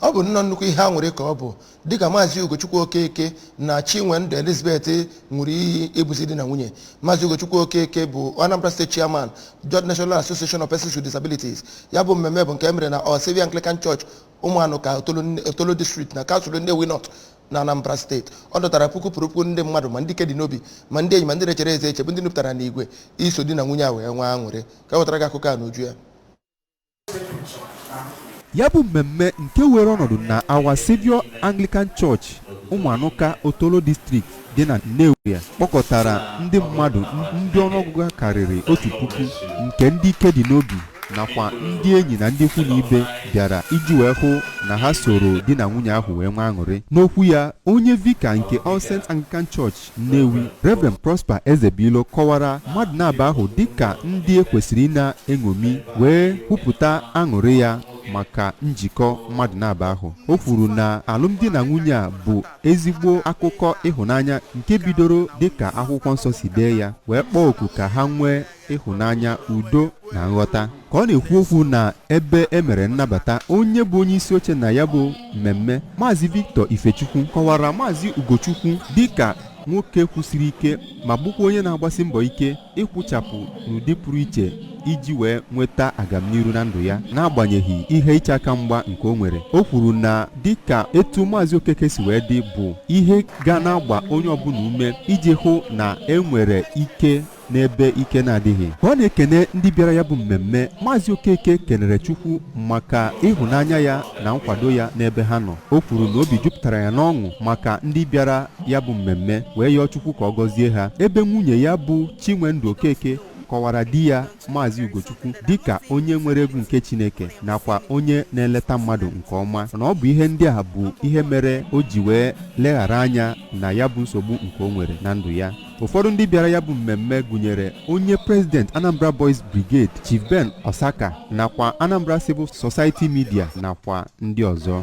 ọ bụ nnọọ nnukwu ihe aṅụrị ka ọ bụ dịka maazị ugochukwu okeke na chinwendu elizabeth ṅụrụ iyi ịbụzi di na nwunye maazị ugochukwu okeke bụ anambra state chairman joint national association of persons with disabilities ya bụ mmemme bụ nke e mere na our saviour anglican church ụmụanụka otolo district na kansụl nnewi north na anambra steeti ọ dọtara puku kwuru puku ndị mmadụ ma ndị ike dị n'obi ma ndị enyi ma ndị na-echere ezi echiche bụ ndị nupụtara n'igwe iso di na nwunye a wee nwee aṅụrị ka wetara gị akụkọ a n'uju ya ya bụ mmemme nke were ọnọdụ na Our Saviour Anglican Church ụmụanụka otolo district dị na Nnewi ya kpọkọtara ndị mmadụ ndị ọnụọgụgụ ha karịrị otu puku nke ndị ike dị n'obi nakwa ndị enyi na ndị ikwu na ibe bịara iji wee hụ na ha soro di na nwunye ahụ wee nwee aṅụrị n'okwu ya onye vika nke All Saints Anglican Church Nnewi Reverend Prosper Ezebilo kọwara mmadụ naabọ ahụ dịka ndị e kwesịrị ịna-eṅomi wee kwupụta aṅụrị ya maka njikọ mmadụ naabọ ahụ o kwuru na alụmdi na nwunye a bụ ezigbo akụkọ ịhụnanya nke bidoro dịka akwụkwọ nsọ si dee ya wee kpọọ oku ka ha nwee ịhụnanya udo na nghọta ka ọ na-ekwu okwu na ebe e mere nnabata onye bụ onye isi oche na ya bụ mmemme maazị Victor Ifechukwu kọwara maazị Ugochukwu dịka nwoke kwụsiri ike ma bụkwa onye na-agbasi mbọ ike ịkwụchapụ n'ụdị pụrụ iche iji wee nweta agamniru na ndụ ya n'agbanyeghị ihe iche aka mgba nke o nwere o kwuru na dịka etu maazị okeke si wee dị bụ ihe ga na-agba onye ọbụla ume iji hụ na e nwere ike n'ebe ike na-adịghị ka ọ na-ekene ndị bịara ya bụ mmemme maazị okeke kenere chukwu maka ịhụnanya ya na nkwado ya n'ebe ha nọ o kwuru na obi jupụtara ya n'ọṅụ maka ndị bịara ya bụ mmemme wee yọọ chukwu ka ọ gọzie ha ebe nwunye ya bụ chinwendu okeke kọwara di ya maazị ugochukwu dịka onye nwere egwu nke chineke nakwa onye na-eleta mmadụ nke ọma na ọ bụ ihe ndị a bụ ihe mere o ji wee leghara anya na ya bụ nsogbu nke o nwere na ndụ ya ụfọdụ ndị bịara ya bụ mmemme gụnyere onye president anambra boys brigade chief ben osaka nakwa anambra civil society media nakwa ndị ọzọ